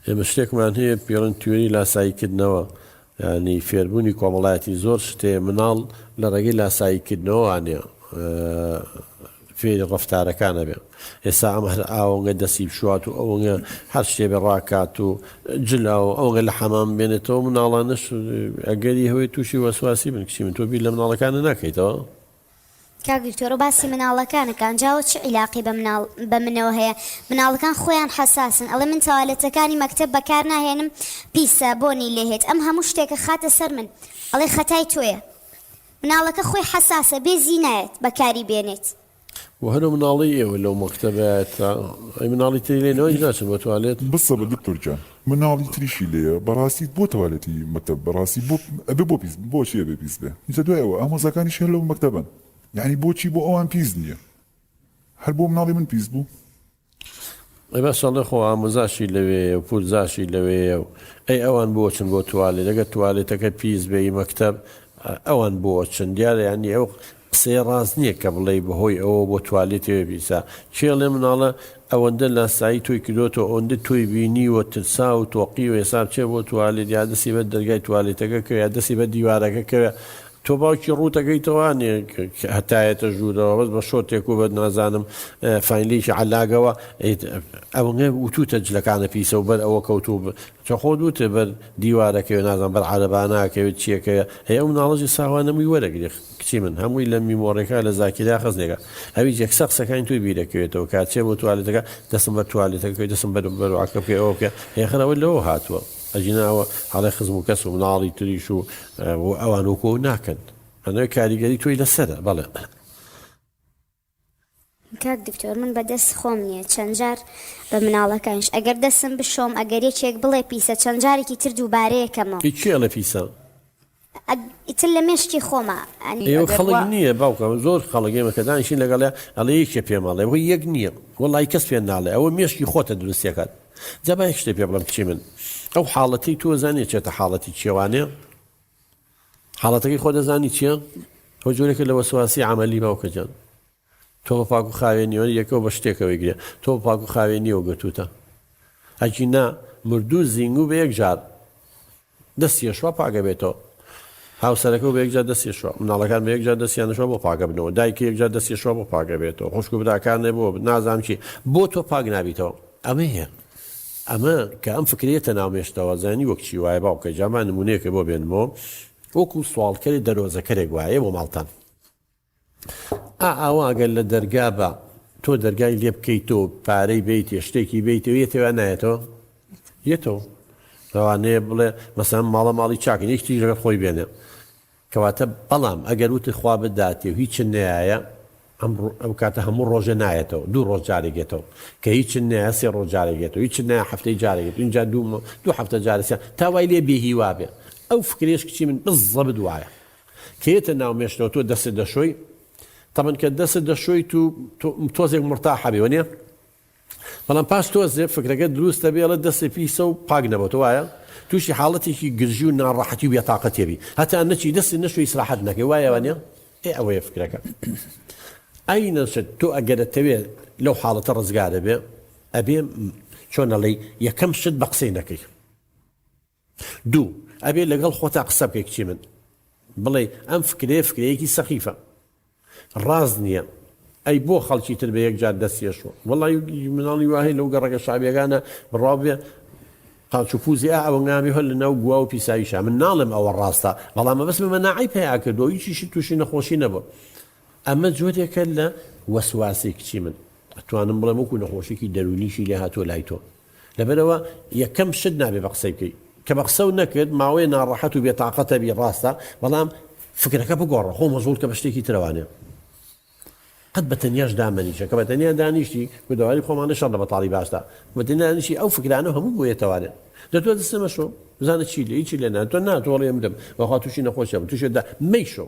ئێمە شتێکمان هەیە پیڕن تیۆری لاسایی کردنەوە یانی فێربوونی کۆمەڵایەتی زۆر شتێ مناڵ لە ڕێگەی لاسایی کردنەوە وانە فێری ڕفتارەکانە بێ ئێسا ئەم هەر ئاوەنگە دەسی بشوات و ئەوەنگە هەر شتێ بە ڕاکات و جلا و ئەوگە لە حەمام بێنێتەوە مناڵانش ئەگەری هەوەی تووشی وەسواسی من کچی من تۆبی لە مناڵەکانە ناکەیتەوە کاک دکتۆرۆ باسی مناڵەکانە کانجاوە چ عیلاقی بە مناڵ بە منەوە هەیە مناڵەکان خۆیان حەساسن ئەڵێ من تەوالێتەکانی مەکتەب بەکار ناهێنم پیسە بۆنی لێهێت ئەم هەموو شتێکە خاتە سەر من ئەڵێ خەتای تۆیە مناڵەکە خۆی حەساسە بێ زی نایەت بەکاری بێنێت و هەرە مناڵی ئێوە لەو مەکتەبایەتە ئەی مناڵی تری لێ نەوەی ناچن بە توالێت. بسە بە دکتۆر گیان. مناڵی تریشی لێیە بەڕاستی بۆ تەوالێتی مەکتەب بەڕاستی بۆ ئەبێ بۆ پیس بۆچی ئەبێ پیس بێ ئینجا دوای ئەوە ئامۆزاکانیش هەر لەو مەکتەبەن یەعنی بۆچی بۆ ئەوان پیس نییە هەر بۆ مناڵی من پیس بوو ئەی بەس ئەڵێ خۆ ئامۆزاشی لەوێیە و پورزاشی لەوێیە و ئەی ئەوان بۆچن بۆ توالێت دەگە توالێتەکە پیس بێی مەکتەب ئەوان بۆچن دیارە یانی ئەو قسەی ڕاست نیە کە بڵێی بەهۆی ئەوە بۆ توالێتەوە بیسا کێ ئەڵێ مناڵە ئەوەندە لاسایی تۆی کردۆتەوە ئەوەندە تۆی بینیوە ترسا و تۆقیوە ئێسا بچێ بۆ توالێت یا دەستی بە دەرگای توالێتەکە کەوێ یا دەستی بە دیوارەکە کەوێ تۆ باوکی ڕووتەکەیتەوە نێ هەتایەتە ژوورەوە بەس بە شۆرتێک و بە نازانم فاینلێکی عەلاگەوە ئەوەنگە وتوتە جلەکانە پیسە و بەر ئەوە کەوتوو تۆ خۆت وتت بەر دیوارەکەوێ نازانم بەر عەرەباناکەوێ چیەکەوێ ئەی ئەو مناڵە جی ساوا نەموی وەرەگری کچی من هەموی لە میمۆڕیەکە لە زاکیرە خزنێکە ئەویش یەکسەر قسەکانی تۆی بیرەکەوێتەوە کە چێ بۆ توالێتەکە دەسم بەر توالێتەکە بکەوێ دەسم بەر بەروعەکە بکەوێ ئەوە بکە هێخر ئەوە لەوە هاتووە ئەگینا ئەوە هەڵێ خزم و کەس و مناڵی تریش و ئەوان وەکۆ ناکەن ئەنەوەی کاریگەری تۆی لەسەرە بەڵێ کاک دکتۆر من بە دەست خۆم نییە چەند جار بە مناڵەکانش ئەگەر دەسم بشۆم ئەگەر یەکێک بڵێ پیسە چەند جارێکی تر دووبارەیەکەمەوە. هی کێ ئەڵێ پیسە؟ ئیتر لە مێشکی خۆمە ئەنی ئەگەر وا. ئێوە خەڵک نییە باوکم زۆر خەڵک ئێمە کە دانیشین لەگەڵێ ئەڵێ یەکێ پێم ئەڵێ وەی یەک نییە وەڵای کەس پێ ناڵێ ئەوە مێشکی خۆتە دروست ئەکات جا با یەک شتێ پێ بڵێم کچی من ئەو حاڵەتەی تۆ زانیە چێتە حاڵەتی کێوانێ حاڵەتەکەی خۆ دەزانی چیە؟ ئەو جۆرێکە لە وەسواسی عەمەلی باوکە جان تۆ بە پاک و خاوێنیەوە یەکەوە بە شتێکەوەی گرێ تۆ بە پاک و خاوێنیەوە گرتوتە ئەکی نا مردوو زینگو بە یەک جار دەست یشوا پاگە بێتەوە هاوسەرەکە و بە یەکجار دەست یشوا مناڵەکان بە یەکجار دەستیانشوا بۆ پاگە بنەوە دایکی یەکجار دەست یشوا بۆ پاگە بێتەوە خوشک و براکانێ بۆ نازانام چی بۆ تۆ پاک نابیتەوە ئەمە هەیە ئەمە کە ئەم فکرە یەتە ناو مێشکتەوە زانی وەک چی وایە باوکە جا با نمونەیەکە بۆ بێنمەوە وەکو سواڵکەرێ دەرۆزەکەرێک وایە بۆ ماڵتان ئا ئاوا گەر لە دەرگا بە تۆ دەرگای لێ بکەیتەوە پارەی بیتێ شتێکی بیتەوە یەتەوە نایەتەوە یەتەوە لەوانەیە بڵێ مەسان ماڵە ماڵی چاکن یەکتیش لەگەڵ خۆی بێنێ کەواتە بەڵام ئەگەر وتت خوا بداتێ و هیچت نەیایە، ئەم ئەو کاتە هەموو ڕۆژێ نایەتەوە، دوو ڕۆژ جارێک یەتەوە، کە هیچت نەیایە سێ ڕۆژ جارێک یەتەوە، هیچت نەیایە حەفتەی جارێک یەتەوە، ئینجا دوو مە دوو حەفتە جارێک سێ، تا وای لێ بێ هیوا بێ، ئەو فکرەیش کچی من بززەبت وایە، کە یەتە ناو مێشکەوە تۆ دەستت دەشۆی، تەبەن کە دەستت دەشۆیت و تۆ تۆزێک مورتاح ئەبی وەنیە؟ بەڵام پاش تۆزێ فکرەکەت دروست دەبێ ئەڵێت دەستێ پیسە و پاک نەبۆتە وایە؟ تووشی حاڵەتێکی گرژی و ناڕەحەتی و بێتاقەتی ئەبی هەتا نەچی دەستت نەشۆی ئیسراحەت نەکەی وایە وانیە؟ ئێ ئەوەیە فکرەکە ئەی نەشت تۆ ئەگەر ئەتەوێ لەو حاڵەتە ڕزگارەبێ ئەبێ چۆن ئەڵێی یەکەم شت بە قسەی نەکەی. دوو، ئەبێ لەگەڵ خۆتا قسە بکەی کچی من، بڵێی ئەم فکرەیە فکرەیەکی سەخیفە، ڕاست نییە، ئەی بۆ خەڵکی تر بە یەک جار دەست یەشۆ؟ وەڵای مناڵی وا هەیە لەو گەڕەکە شەعبیەکانە بڕاو بێ قاچ و پوزی ئا ئەوەنگامی هەر لە ناو گوا و پیساییشە، من ناڵێم ئەوە ڕاستە، بەڵام مەبەستمە مەناعەی پەیا کردووە و هیچیشی تووشی نەخۆشی نەبووە. ئەمە جۆرێکە لە وەسواسەی کچی من، ئەتوانم بڵێم وەکوو نەخۆشیەکی دەروونیشی لێ هاتووە لای تۆ. لەبەرئەوە یەکەم شت نابێ بە قسەی بکەی کە بە قسەو نەکرد ماوەیە ناڕەحەت و بێ تاقەت ئەبی ڕاستە بەڵام فکرەکە بگۆڕە خۆ مەژوڵ کە بە شتێکی ترەوە نێ قەت بە تەنیاش دامەنیشە کە بە تەنیا دانیشتی گودەواری خۆمانە شەڕ لە بەتاڵی باشدا بە تەنیانیشی ئەو فکرانە هەموو بۆیە تەوانێت دەتوە دەستە مەشۆ بزانە چی لێ چی لێ ناتۆ ناتۆڵێ بدەم بەخوا تووشی نەخۆشە بە تووشێدا مەیشۆ